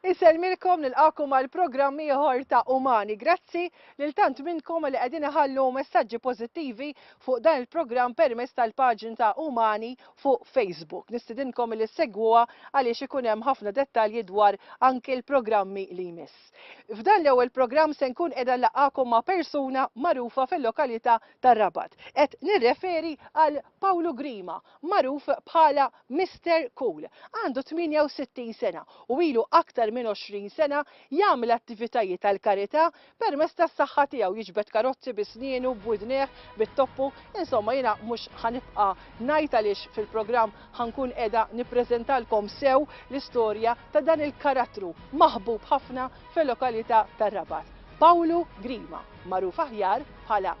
Isellmilkom, nilqagħkom għal programm ieħor ta' Umani. Grazzi lil tant minnkom li qegħdin iħallu messaġġi pożittivi fuq dan il-programm permezz tal-paġn ta' Umani fuq Facebook. Nistidinkom li ssegwuha għaliex ikun hemm ħafna dettalji dwar anki l-programmi li jmiss. F'dan l-ewwel programm se nkun qiegħda nlaqqagħkom ma' persuna magħrufa fil-lokalita' tar-Rabat. Qed nirreferi għal Pawlu Grima, magħruf bħala Mister Cool, għandu 68 sena u ilu aktar minn 20 sena jagħmel attivitajiet għall-karità permezz tas-saħħa tiegħu, jiġbed karozzi bi snienu, b'widnejh, bit-toppu, insomma jiena mhux ħa nibqa' ngħid għaliex fil-programm ħa nkun qiegħda nippreżentalkom sew l-istorja ta' dan il-karattru maħbub ħafna fil-lokalità tar-Rabat, Pawlu Grima, magħruf aħjar bħala.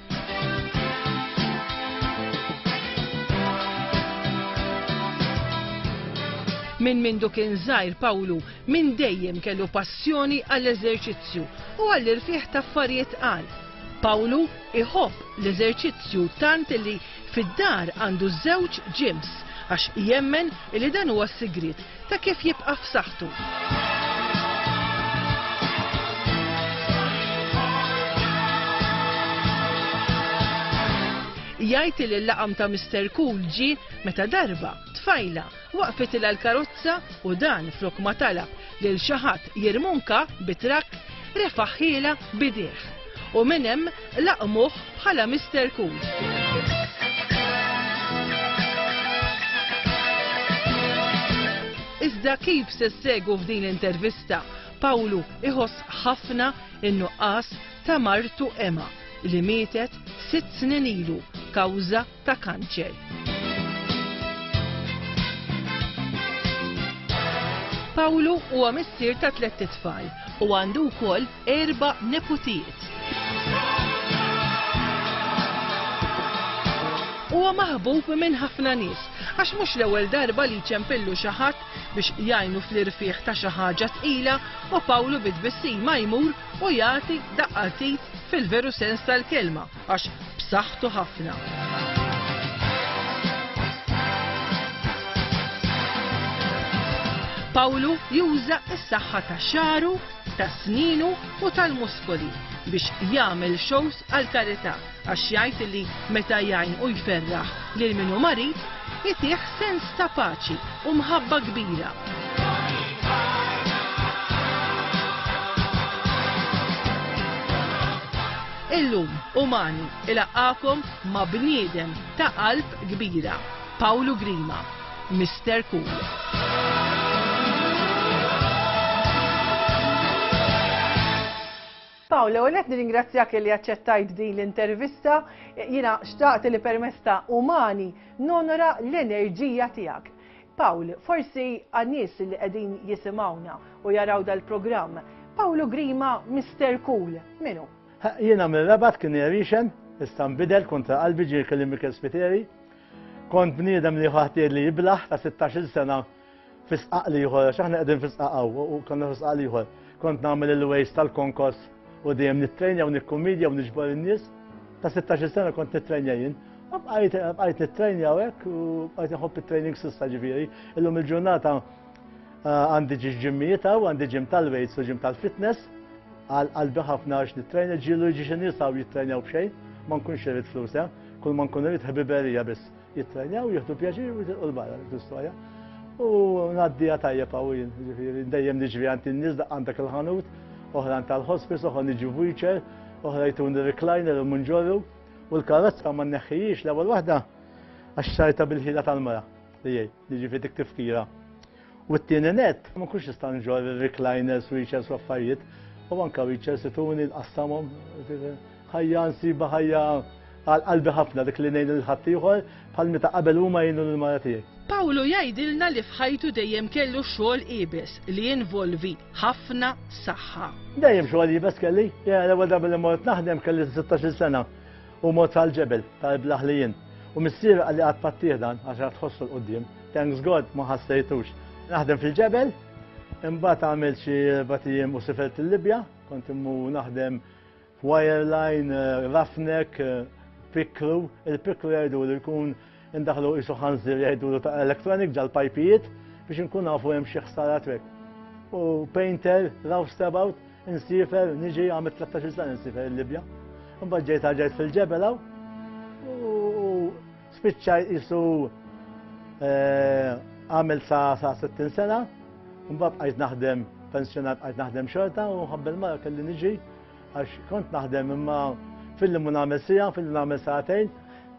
Minn mindu kien żgħir Pawlu minn dejjem kellu passjoni għall-eżerċizzju u għall-irfieħ ta' affarijiet qal. Pawlu iħobb l-eżerċizzju tant li fid-dar għandu żewġ ġims għax jemmen li dan huwa s-sigriet ta' kif jibqa' f'saħħtu. Jgħid li l-laqam ta' Mr. Cool ġi meta darba tfajla waqfet il l-karozza u dan flok ma talab lil xi ħadd jirmunka bi trakk refaħħiela bidih. U minn hemm Laqmuh bħala Mister Cool. Iżda kif se ssegu f'din l-intervista, Pawlu iħoss ħafna in-nuqqas ta' martu Emma li mietet sitt snin ilu kawża ta' kanċer. Pawlu huwa missier ta' tliet itfal u għandu wkoll erba' neputijiet. Huwa maħbub minn ħafna nies għax mhux l-ewwel darba li jċempillu xi ħadd biex jgħinu fl-irfigħ ta' xi ħaġa tqila u Pawlu bi tbissima jmur u jagħti daqqatit fil-veru sens tal-kelma Għax b'saħħtu ħafna. Pawlu juża s-saħħa ta' xaru, ta' sninu u tal-muskoli biex jagħmel shows għal karità għax jgħid li meta jgħin u jferraħ lil minu marid jitih sens ta' paċi u mħabba kbira. Illum, Umani ilaqqagħkom ma' bniedem ta' qalb kbira, Pawlu Grima, Mister Cool. Pawl, l-ewwel nett nirringrazzjak li aċċettajt din l-intervista. Jiena xtaqt li permezz ta' umani nonora l-enerġija tiegħek. Pawl, forsi għan-nies li qegħdin jisimgħuna u jaraw dal-programm, Pawl u Grima Mister Cool, min hu? Jiena mir-Rabat kien irixen, issa nbidel kontra qalbi ġie jkellimni Mikel Spiteri. Kont bniedem li ħadd jgħidli jiblaħ ta' 16-il sena fi sqaq l-ieħor, għax aħna qegħdin fi sqaq hawn u konna fi sqaq l-ieħor. Kont nagħmel il-waste tal-konkos U dejjem nittrejnja u nikkumidja u niġbor in-nies. Ta' 16 sena kont nittrejnja jien. Bqajt nittrejnja u hekk u bqajt nħobb it-training sissa ġifieri. Illum il-ġurnata ah, għandi ġiġ ġimmijiet u għandi ġim tal-weights u ġim tal-fitness. Għal qalbi ħafna għax nittrejnja ġilu ġiġ nies u jittrejnjaw b'xejn. Ma nkunx irid flus, eh? kull ma nkun irid ħbiberija biss. Jittrajnaw, jieħdu pjaċir u jitilqu l-barra l-istoria. U naddija tajjeb għawin, ġifiri, dejjem niġri għanti n-nis għandak il-ħanut, oħra għant tal-hospice, oħra niġu wheelchair, oħra jtun recliner u munġorru, u l-karozza ma neħħijiex l-ewwel waħda għax sajta bil-ħila tal-mara li jgħid, jiġifieri dik tifkira. U t-tieni nett, ma nkunx nista' nġorr recliners, wheelchairs u affarijiet, u anke wheelchairs ituni nqassamhom. Ħajja nsiba ħajja għal qalbi ħafna dik li ngħin lil ħaddieħor bħal meta qabel huma jgħinu lill-mara tiegħi. Pawlu jgħidilna li f'ħajtu dejjem kellu xogħol iebes li jinvolvi ħafna saħħa. Dejjem xogħol iebes kelli. Jiena l-ewwel darba li mort naħdem kelli 16-il sena. Hu mot għall-ġebel ta' Ibla Ħlijien u missieru qalli qatt ma ttieħ dan għax rat ħossu 'l quddiem. Thanks God ma ħassejtux. Naħdem fil-ġebel, imbagħad għamilt xi erbat ijiem u sifert il-Libja, kont immur naħdem f'wireline, roughneck, picklu, il-picklu jgħidulu jkun Indaħlu qisu ħanżir jgħidulu ta' electronic ġal-pajpijiet biex nkun nafu hemm xi ħsara trek. U painter, roustabout, insifer, niġi għamil 13 sena insifer il-Libja. Mbagħad ġejt ġejt fil-ġebel hawn u spiċċaj isu eh, għamil sa 60 sena, mbagħad qajt naħdem pensjonat qajt naħdem xorta u ħabbel mara kelli niġi Għax kont naħdem imma filli mu nagħmel sija, filli nagħmel sa'tejn.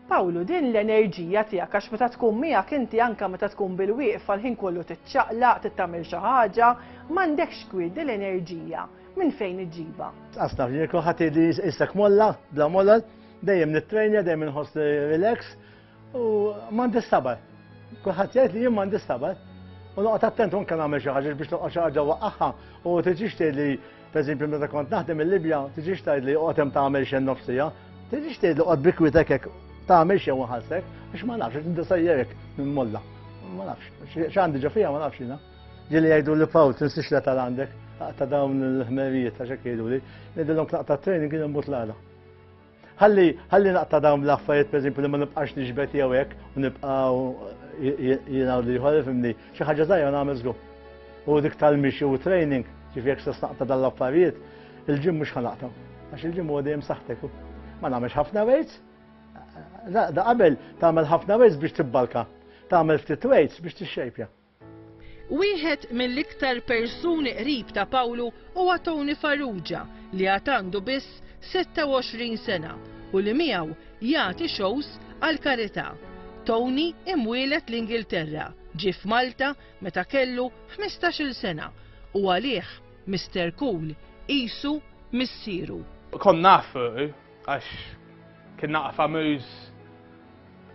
Pawlu, din l-enerġija tiegħek għax meta tkun miegħek inti anke meta tkun bil-wieqf għal-ħin kollu tiċċaqlaq, tittamil xi ħaġa, m'għandekx kwiet din l-enerġija minn fejn iġġibha. Asna f'ġieko ħadd li issek molla, bla molla, dejjem nittrejnja, dejjem inħoss relax, U m'għandi sabar. Kulħadd jgħid li jien m'għandi sabar. U noqgħod attent unke nagħmel xi ħaġa biex noqgħod xi ħaġa waqaħħa u tiġix tgħid li pereżempju meta kont naħdem il-Libja, tiġix tgħid li oqgħod hemm tagħmel xejn nofsija, tiġix tgħid li oqgħod bikwitek hekk tagħmel xejn waħasek, biex ma nafx, inti sejjerek minn molla. Ma nafx, x'għandi ġo fija ma nafx jiena. Ġieli jgħidu li fawl, tinsix li tal-għandek, ta' dawn il-ħmerijiet ta' xekk jgħidu li, ngħidilhom tlaqta training kien imbut l-għala. Ħalli ħalli naqta' dawn l-affarijiet pereżempju li ma nibqax nixbet jew hekk u nibqgħu jiena li ħol fimni xi ħaġa żgħira nagħmel żgur. U dik tal-mixi u training, ġifi jekk se naqta' dan l-affarijiet, il-ġim mhux ħanaqta. Għax il-ġim huwa dejjem saħtek. Ma nagħmilx ħafna weights. Da qabel tagħmel ħafna weights biex tibbalka. Tagħmel ftit weights biex tixxejpja. Wieħed mill-iktar persuni qrib ta' Pawlu huwa Tony Farrugia li għad għandu biss 26 sena u li miegħu jagħti xows għall-karità. Tony imwieled l-Ingilterra, ġie f'Malta meta kellu 15-il sena u għalih Mister Cool qisu missieru. Kont nafu għax kien naqgħa famuż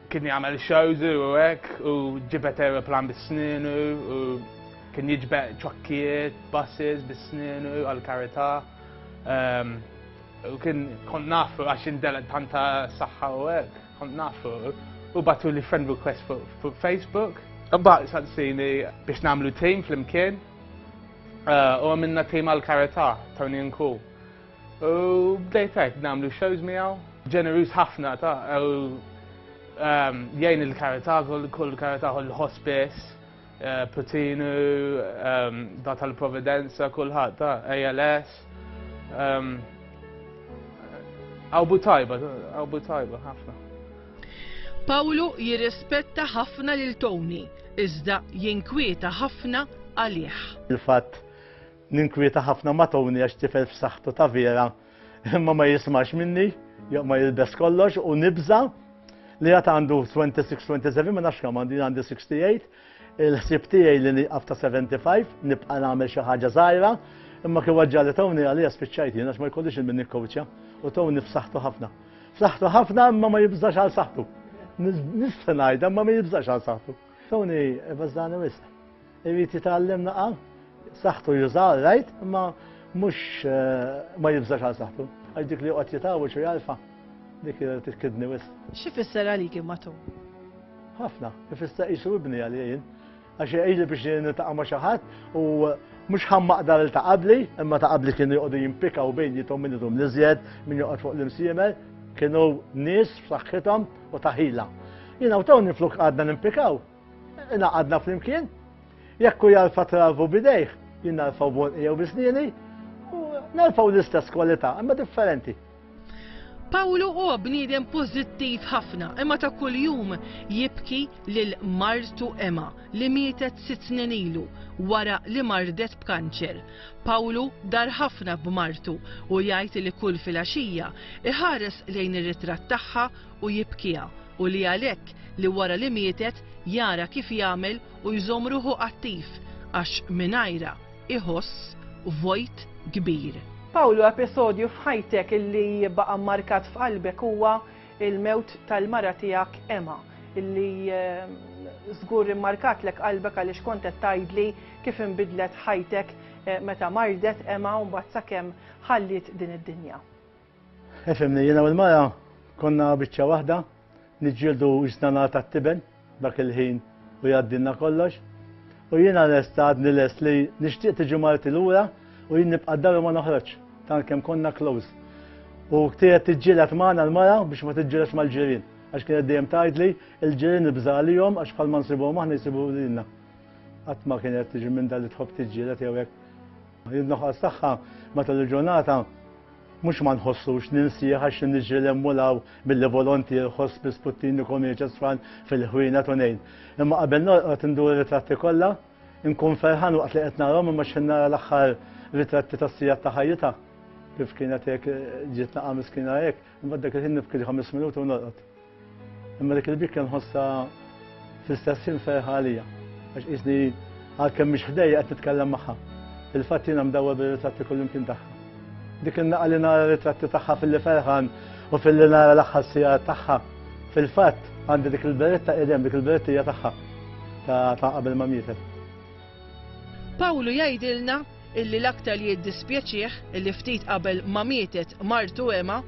Kien jagħmel shows u hekk u ġibet aeroplan bis-sninu u kien jiġbed ċokkijiet, buses bis-sninu għal-karità. Ehm, u kien kont nafu għax indelet tanta saħħa u hekk, kont nafu. U batu li friend request fuq Facebook. Imbagħad saqsini biex nagħmlu team flimkien eh, u għamilna team għal-karità, Tony and Cool. U bdejt hekk nagħmlu shows miegħu, ġeneruż ħafna ta' ehm, jgħin il-karità, kull karità kull hospice, eh, Putinu, ehm, da tal-Providenza, kulħadd ta' ALS. Ehm, Awbu tajba, awbu tajba ħafna. Pawlu jirrispetta ħafna lil Tony, iżda jinkwieta ħafna għalih. Il-fatt Ninkwieta ħafna ma' Tony għax tifel f'saħħtu ta' vera, imma ma jismax minni, ma jilbes kollox u nibża li għat għandu 26-27 ma nafx kam għandi għandi 68, il-ħsib tiegħi li niqaf ta' 75, nibqa' nagħmel xi ħaġa żgħira, imma kif ġali Tony għalija spiċċajt jien għax ma jkollix il-min nikkowċja u Tony f'saħħtu ħafna. F'saħħtu ħafna imma ma jibżax għal saħħtu. Nista' ngħidha ma ma jibżax għal saħħtu. Tony, bażdani wisq. Irid jitgħallem naqa' saħħtu juża rajt imma mhux eh, ma jibżax għal saħħtu. Għax dik li qod jitgħawġ u jarfa' dik titkidni wis. Xi fisser għalik imatu? Ħafna, ifisser qisu ibni għalijin. Għax jgħidli biex nitaqa' ma' xi ħadd u mux ħammaq dar il taqabli, imma taqabli kienu joqdu jimpika u bejn jitom minn idum nizjed, minn joqgħod fuq l-imsiemer, kienu nis f'saħħithom u taħila. Jina u taw nifluk għadna nimpikaw, Inaqadna flimkien, jekk u jarfa travu bidejh, jien narfaw bonqi jew bisnieni, u narfaw l-istess kwalità, imma differenti. Pawlu huwa bniedem pożittiv ħafna, imma ta' kuljum jibki lil martu Emma li mietet sitt snin ilu wara li mardet b'kanċer. Pawlu dar ħafna b'martu u jgħid li kull filgħaxija iħares lejn ir-ritratt tagħha u jibkiha u li għalhekk li wara li mietet jara kif jagħmel u jżomm ruħu attiv għax mingħajrha iħoss vojt kbir. Pawlu episodju f'ħajtek illi baqa' mmarkat f'qalbek huwa l-mewt tal-mara tiegħek Emma illi żgur immarkatlek qalbek għaliex kont qed tgħidli kif inbidlet ħajtek meta mardet Emma u mbagħad sakemm ħalliet din id-dinja. Efimni, jiena u l-mara konna biċċa waħda, niġġieldu ġnana ta' tiben dak il-ħin u jgħaddilna kollox. U jiena lest għadni lest li nixtieq tiġi marti lura u jien nibqa' daru ma noħroġ, tant kemm konna close. U ktiet tiġġielet magħna l-mara biex ma tiġġielet mal-ġirien, għax kienet dejjem tgħidli il-ġirien nibża' għalihom għax bħalma nsibuhom aħna jsibu lilna. Qatt ma kienet tiġi minn dan li tħobb tiġġielet jew hekk. In-nuqqas tagħha matul il-ġurnata mhux ma nħossux ninsih għax niġri lemmu law billi volontier ħoss bi sputtini komiċa sfan fil-ħwina tunejn. Imma qabel norqod indur ritratti kollha, inkun ferħan waqt li qed narhom imma x'in nara l-aħħar ritratti tas-sijat ta' ħajjitha. Kif kienet hekk ġiet naqa' miskina hekk, imma dak il-ħin nibki ħames minuti u norqod. Imma dik il-bikka nħossha fl-istess ħin ferħa għalija. Għax isni għalkemm mhix ħdejja qed nitkellem magħha. Fil-fatt jiena mdawwa bir-ritratti kullimkien tagħha. Dik in-naqa li nara ritratti tagħha fil-li ferħan u fil-li nara l-aħħar sija tagħha. Fil-fatt għandi dik il-beretta qedem, dik il-beretta hija tagħha ta' qabel ma mietet. Pawlu jgħidilna illi l-aktar li jiddispjaċih illi ftit qabel ma mietet martu Ema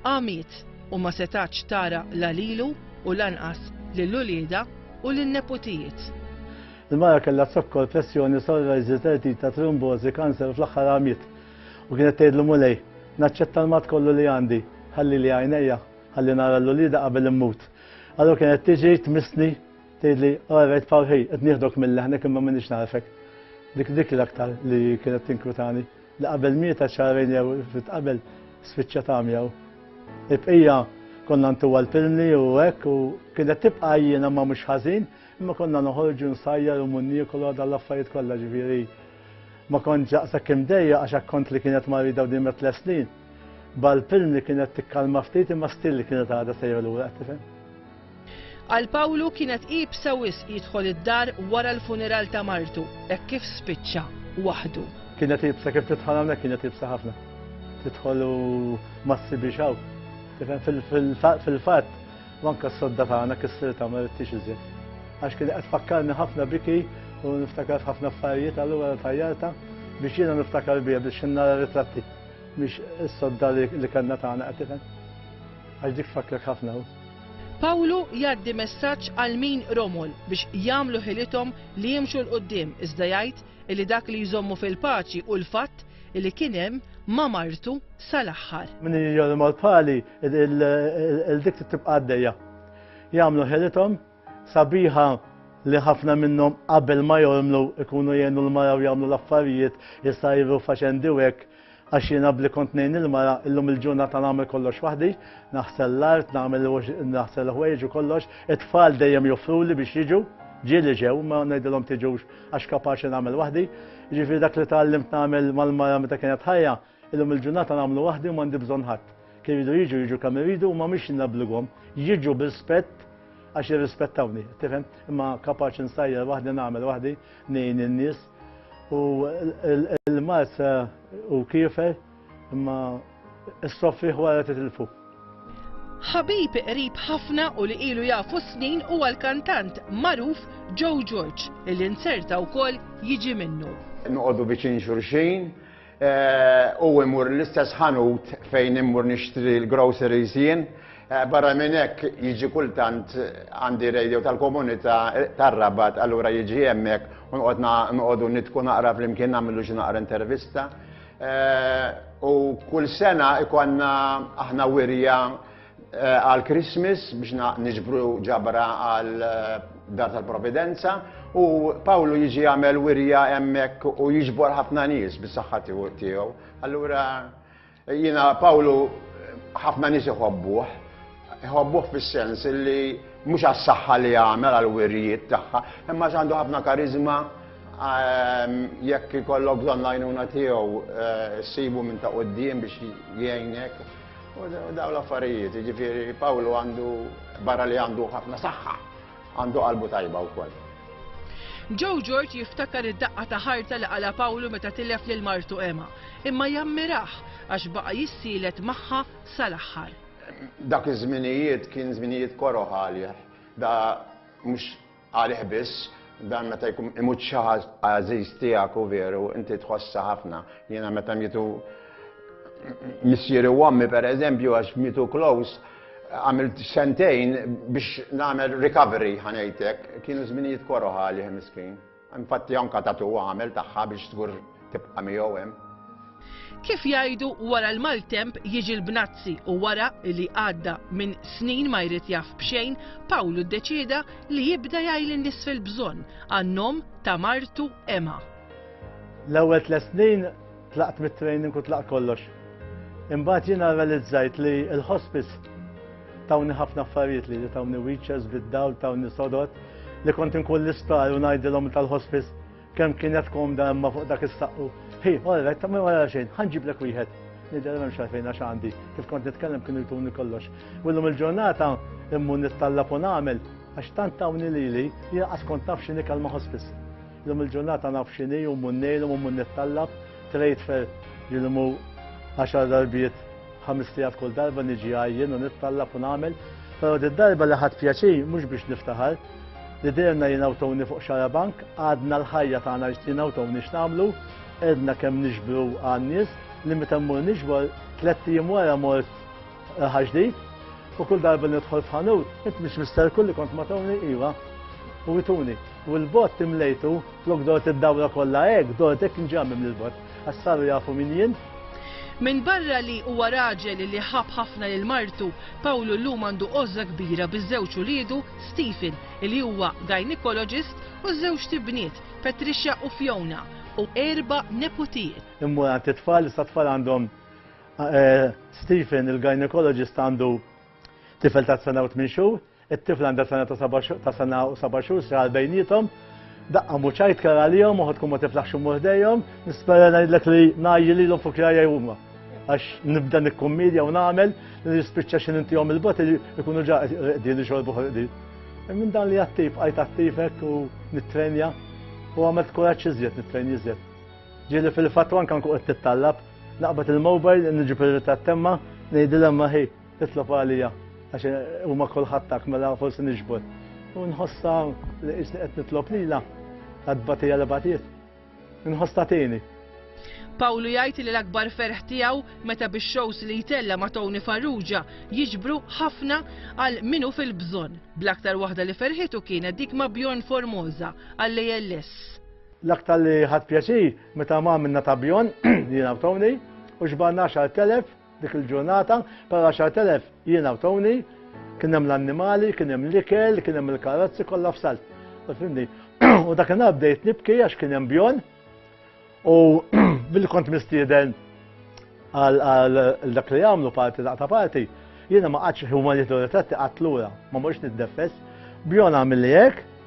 Għamiet, u ma setgħatx tara la lilu u lanqas lil uliedha u lin-neputijiet. Il-mara kellha zokkor, pressjoni, psoriasis, dertita, trombożi, kanser u fl-aħħar għamiet. U kienet tgħidlu, Mulej, naċċetta l-mard kollu li għandi, ħallili għajnejja, ħalli nara lil uliedha qabel immut. Allura kienet tiġi tmissni, tgħidli, Orajt Pawl ħej, qed nieħdok mil-leħnek imma m'iniex nagħrfek. Dik dik l-aktar li kienet tinkwitani. li qabel mietha xahrejn jew ftit qabel spiċċat għamja u l-bqija konna ntuha l-pilmli u hekk u kienet tibqa' għajjiena ma mhux ħażin imma konna noħorġu nsajjar u mmur niekol għadha l-affarijiet kollha ġifieri ma kontx daqshekk imdejja għax akkont li kienet marida u dimet tles snin bal-pilmli kienet tikkalma ftit imma stil li kienet għadha sejra lura qed tifhem. Għal Pawlu kienet iebsa wisq jidħol id-dar wara l-funeral ta' martu, hekk kif spiċċa waħdu. Kienet iebsa kif tidħol hawnhekk kienet iebsa ħafna. Tidħol u ma ssibix hawn. Tifhem fil-fatt manka s-sodda tagħna kissir tagħmel it-tix iżjed. Għax kien qed fakkarni ħafna biki u niftakar ħafna affarijiet allura tajjarta biex jiena niftakar bija biex nara ritratti biex is-sodda li kellna tagħna qed tifhem. Għax dik fakrek ħafna Pawlu jgħaddi messaġġ għal min romol biex jagħmlu ħilithom li jimxu 'l quddiem iżda jgħid illi dak li jżommu fil-paċi hu l-fatt illi kien hemm ma' martu sal-aħħar. Min irid jgħommol bħali, il-dik trid tibqa' għaddejja. Jagħmlu ħilithom sabiħa li ħafna minnhom qabel ma jormlu ikunu jgħinu l-mara u jagħmlu l-affarijiet jsajru faċendi u hekk għax jiena bli kont ngħin il-mara illum il-ġurnata nagħmel kollox waħdi, naħsel l-art, nagħmel naħsel ħwejġ u kollox, it-tfal dejjem joffruli biex jiġu, ġieli ġew ma ngħidilhom tiġux għax kapaċi nagħmel waħdi. Ġifieri dak li tgħallimt nagħmel mal-mara meta kienet ħajja Illum il-ġurnata nagħmlu waħdi u m'għandi bżonn ħadd. Kien iridu jiġu, jiġu kemm iridu u ma mhix li nobblighom. Jiġu b'rispett għax jirrispettawni, tifhem? Imma kapaċi nsajjar waħdi, nagħmel waħdi, ngħin in-nies. U l-mard hu kiefer imma issofrih wara titilfu. Ħabib qrib ħafna u li ilu jafu snin huwa l-kantant magħruf Joe George li nserta wkoll jiġi minnu. Noqogħdu viċin xulxin, u imur l-istess ħanut fejn imur nixtri l-groceries jien. Eh, barra minn hekk jiġi kultant għandi radio tal-komunità eh, tar-rabat, allura jiġi hemmhekk u noqogħdu nitku naqra flimkien nagħmlu xi naqra intervista. Eh, u kull sena ikonna aħna wirja għal Christmas biex niġbru ġabra għal dar tal-providenza u Pawlu jiġi għamel wirja hemmhekk u jiġbor ħafna nies bis-saħħa tiegħu. Allura jiena Pawlu ħafna nies iħobbuh, iħobbuh fis-sens li mhux għas-saħħa li għamel għal wirjiet tagħha, imma għandu ħafna karizma ehm, jekk ikollok bżonn l-għajnuna tiegħu eh, sibu minn ta' quddiem biex jgħinek. U daw l-affarijiet, ġifiri, Pawlu għandu, barra li għandu ħafna saħħa, għandu qalbu tajba u koll. Joe George jiftakar id-daqqa ta' ħarta li għala Pawlu meta tilef lil martu Emma, imma jammiraħ għax baqa jissielet magħha sal-aħħar. Dak iż-żminijiet kien żminijiet koroħ għalih, da mhux Għalih biss, dan meta jkun imut xi ħadd għażiż tiegħek u veru, inti tħossha ħafna. Jiena meta mietu missieri u ommi pereżempju għax mietu close, għamilt sentejn biex nagħmel recovery ħa ngħidlek, kienu żminijiet koroh għalih miskin. Infatti anke tattoo għamel tagħha biex żgur Tibqa' miegħu hemm. Kif jgħidu wara l-maltemp jiġi l-bnazzi u wara li għadda minn snin ma jrid jaf b'xejn, Pawlu ddeċieda li jibda jgħi lin-nies fil-bżonn għan-nom ta' martu Emma. L-ewwel tliet snin tlaqt mit-training u tlaqt kollox. Imbagħad jiena realizzajt li l-hospice tawni ħafna affarijiet li tawni witches bid-dawl tawni sodot li kont inkun l-isptar u ngħidilhom tal-hospice Kemm kienet komda imma fuq dak is-saqqu. Hi, orret, ta' minn wara xejn, ħanġiblek wieħed. Nidher m'hemmx għalfejn għax għandi, kif kont nitkellem kienu jtuni kollox. Willum il-ġurnata immu nittallab u nagħmel għax tant tawni lili li laqas kont naf x'inhi kalma ħospis. Illum il-ġurnata naf x'inhi u mmun nejlhom u mmun nittallab, trejt fer jilmu għaxar darbiet ħames tijat kull darba niġi għajjen u nittallab u nagħmel. Però darba li ħadd pjaċir mhux biex niftaħar, li derna jien awtoni fuq xarabank, għadna l-ħajja tagħna jien awtoni x'nagħmlu, edna kemm nixbru għan-nies li meta mmur nixbor tliet ijiem wara mort eh, ħaġdid u kull darba nidħol f'ħanut, int mhix mister kulli kont ma tawni iva u jituni. U l-bot timlejtu, flok dort id-dawra kollha hekk, dort hekk nġammim l-bot. Għax saru jafu min jien. Minbarra li huwa raġel li ħabb ħafna lil martu, Pawlu llum għandu għożża kbira biż-żewġ uliedu, Stephen, li huwa gynaecologist, u żewġt ibniet, Patricia u Fiona, u erba' neputijiet. Immur għand it-tfal, issa t-tfal għandhom Stephen, il-gynaecologist għandu tifel ta' sena u tmien xhur, It-tifla għandha sena ta' seba' xhur- ta' sena u seba' xhur sra għal bejniethom. Daqqa mhux għajt kera għalihom, uħud tkun ma tiflaħx immur ħdejhom. Nispera ngħidlek li ngħajji lilhom fuq rajja huma. Għax nibda nikkummedja u nagħmel li nispiċċa xi nintihom il-bogħod li jkunu ġa rieqdin ixorbu ħorqdin. Minn dan li attiv bqajt attiv hekk u nittrenja u għamilt kuraġġ iżjed nittrenja iżjed. Ġieli fil-fatt u anke nkun qed nittallab, naqbad il-mobile, niġi pir-ritratt t'emma, ngħidilha emma ħi, Titlob għalija għax huma kulħattak mela forsi nixbol. U nħossa li isni qed nitlob lila għad batija li batiet. Nħossa tieni. Pawlu jgħid li l-akbar ferħ tiegħu meta bix-shows li jtella ma' Tony Farrugia jiġbru ħafna għal minu fil-bżonn. Bl-aktar waħda li ferħitu kienet dik ma' Bjorn Formosa għal ALS. L-aktar li ħadd pjaċir meta ma' minna ta' Bjorn jiena Tony u xbarna 10,000 Dik il-ġurnata par 10,000 jiena u Tony, kien hemm l-annimali, kien hemm l-ikel, kien hemm il-karozzi kollha f'salt. Fimni, u dak il bdejt nibki għax kien hemm bjon u billi kont mistieden għal dak li jagħmlu parti daqta parti, jiena ma qatx huma li ritratti qatt lura, ma morx niddeffess, bjon għamilli hekk,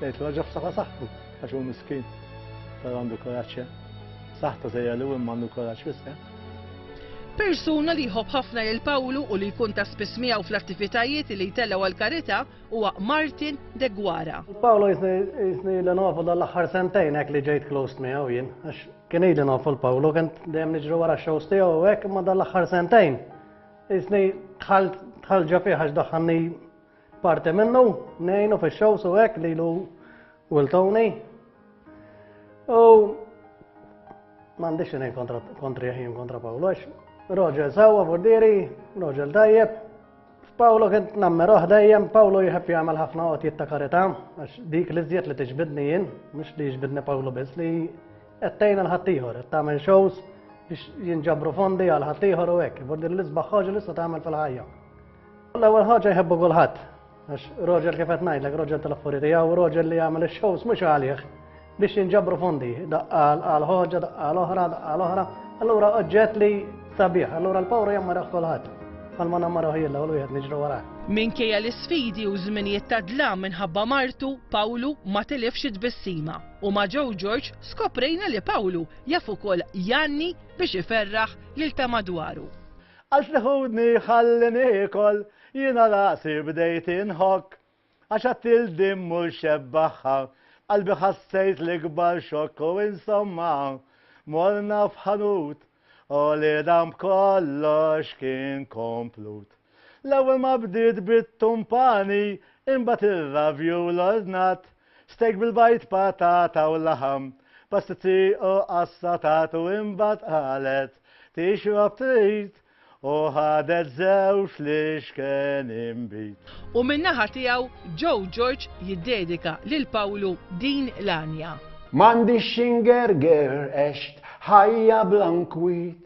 Lejt raġa f'saħħa saħħtu għax hu miskin. Però għandu kuraġġ eh? Saħħta sejja li wim għandu kuraġġ wisq. Eh? Persuna li jħobb ħafna lil Pawlu u li jkun ta' spiss miegħu fl-attivitajiet li jtellgħu għal karità huwa Martin de Gwara. Pawlu jisni li nafu dal-aħħar sentejn hekk li ġejt close miegħu jien għax kien ili nafu l-Pawlu kien dejjem niġru wara x-shows tiegħu hekk imma dal-aħħar sentejn. Jisni tħall ġafiħ għax daħħanni Parti minnu, nejnu fi xow su hekk lilu Will Tony. U m'għandix xejn kontra kontri ħin kontra Pawlu għax Roġel sewwa furdieri, Roġel tajjeb. Pawlu kien nammer dejjem, Pawlu jħeb jagħmel ħafna qod jitta karità, għax dik li żjed li tiġbidni jien, mhux li jiġbidni Pawlu biss li qed tgħin għal ħaddieħor, qed tagħmel shows biex jinġabru fondi għal ħaddieħor u hekk, furdieri li sbaħħoġ li tagħmel fil-ħajja. L-ewwel ħaġa jħebbu kulħadd. Għax roġel kif qed ngħidlek, roġel tal-affuri tiegħu, roġel li jagħmel ix-shows mhux għalih biex jinġabru fondi, daqqa għal ħoġa, daqqa għal oħra, daqqa għal oħra. Allura oġġett li sabiħ, allura l-pawra jammara kulħadd. Għalma nammara ħajilla u l-wieħed niġru wara. Minkejja l-isfidi u żminijiet ta' dlam minħabba martu, Pawlu ma tilifx it-tbissima. U ma' ġew Ġorġ skoprejna li Pawlu jaf ukoll janni biex iferraħ lil ta' madwaru. Għax li ħudni ħalli niekol, jiena rasi bdejt inħokk. Għax għad il din mhux xebbaħħa, f'qalbi ħassejt l-ikbar xokk u insomma, morna f'ħanut, u li dan b'kollox kien komplut. L-ewwel ma bdiet bit-tumpani, imbagħad ir-ravju l-ordnat, Steak bil-bajd, patata u laħam, pastizzi u assatat u imbagħad qalet, Tixrob trid! u ħadet żewġ li xken inbid. U min-naħa tiegħu Joe George jiddedika lil Pawlu din l-għanja. M'għandix x'ingerger għext ħajja bla nkwiet,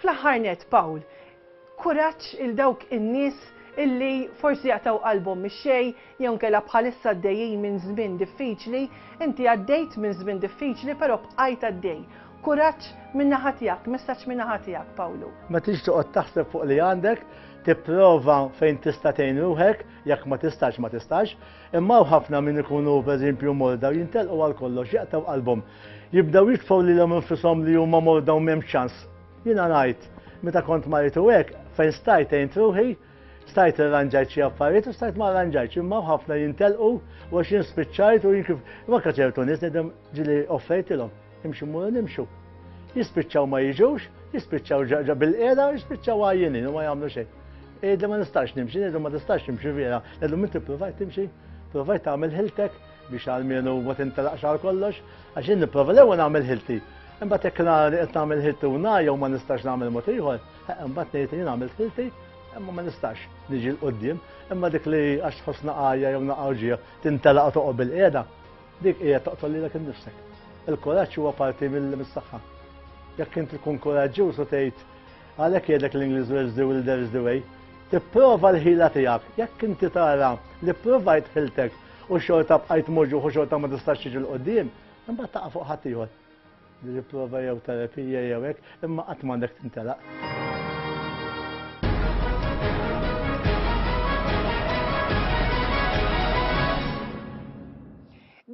Fl-aħħar nett, Pawl, kuraġġ 'il dawk in-nies illi forsi jaqtgħu qalbhom mix-xejn jew inkella bħalissa għaddejjin minn żmien diffiċli. Inti għaddejt minn żmien diffiċli però bqajt għaddej. Kuraġġ min-naħa tiegħek, messaġġ min-naħa tiegħek, Pawlu. Ma tridx toqgħod taħseb fuq li għandek, tipprova fejn tista' tgħin ruħek, jekk ma tistax ma tistax, imma hawn ħafna min ikunu pereżempju morda u jintelqu għal kollox, jaqtgħu qalbhom. Jibdew jitfgħu lilhom infushom li huma morda u m'hemmx ċans. Jiena ngħid, meta kont marid u hekk, fejn stajt għint ruħi, stajt irranġajt xi affarijiet u stajt ma rranġajtx, imma ħafna jintelqu u għax jien spiċċajt u jien kif imma ċertu nies ngħidhom ġili offrejtilhom, imxu mmuru nimxu. Jispiċċaw ma jiġux, jispiċċaw ġaġa bil-qiegħda, jispiċċaw għajjinin u ma jagħmlu xejn. Qiegħda ma nistax nimxi, ngħidhom ma tistax nimxi vera, ngħidhom inti provajt timxi, provajt tagħmel ħiltek, biex għalmenu ma tintelaqx għal kollox, għax jien nipprova l-ewwel nagħmel ħilti. Imbagħad hekk nara li qed nagħmel ħilti u nara jew ma nistax nagħmel mod ieħor, imbagħad ngħid li jien għamilt ħilti, imma ma nistax niġi l qudiem imma dik li għax tħoss naqajja jew naqgħu ġieħ tintelaq toqgħod bil-qiegħda, dik hija toqtol lilek innifsek. Il-kuraġġ huwa parti mill-missaħħa. Jekk inti tkun kuraġġjuż u tgħid għalhekk jgħidlek l-Ingliż will do will there is the way, tipprova l-ħila tiegħek. Jekk inti tara li provajt ħiltek u xorta bqajt moġuħ u xorta ma tistax tiġi l-qoddim, imbagħad taqa' fuq ħadd ieħor. Li prova jew terapija jew hekk, imma qatt m'għandek tintelaq.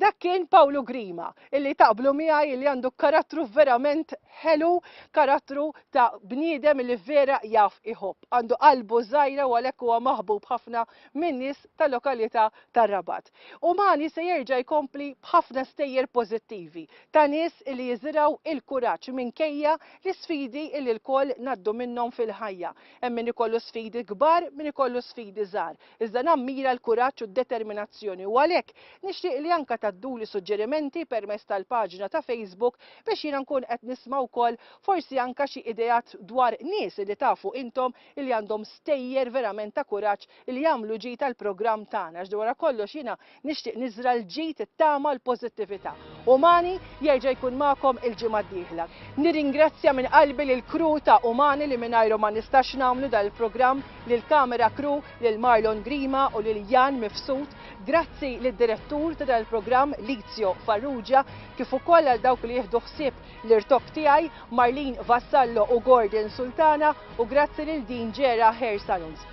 Dak kien Pawlu Grima, illi taqblu miegħi li għandu karattru verament ħelu, karattru ta' bniedem li vera jaf iħobb. Għandu qalbu żgħira u għalhekk huwa maħbub ħafna min-nies tal-lokalità tar-Rabat. Umani se jerġa' jkompli b'ħafna stejjer pożittivi ta' nies li jiżirgħu il-kuraġġ minkejja l-isfidi li lkoll ngħaddu minnhom fil-ħajja. Hemm min ikollu sfidi kbar, min ikollu sfidi żgħar. Iżda nammira l-kuraġġ u d-determinazzjoni u għalhekk nixtieq li anke tgħadduli suġġerimenti permezz tal-paġna ta' Facebook biex jiena nkun qed nisma' wkoll forsi anke xi ideat dwar nies li tafu intom li għandhom stejjer verament ta' kuraġġ li jagħmlu ġid għall-programm tagħna għax wara kollox jiena nixtieq niżra' l-ġid, it-tama, l-pożittività. Umani jerġa' jkun magħkom il-ġimgħa d-dieħla. Nirringrazzja minn qalbi lill-crew ta' Umani li mingħajrhom ma nistax nagħmlu dan il-programm, lill-camera crew, lil Marlon Grima u lil Jan Mifsud. Grazzi lid-direttur ta' dan il-programm, Lizio Farrugia, kif ukoll għal dawk li jieħdu ħsieb l-irtokk tiegħi, Marlene Vassallo u Gordon Sultana, u grazzi lil Dean Gera Hair Salons.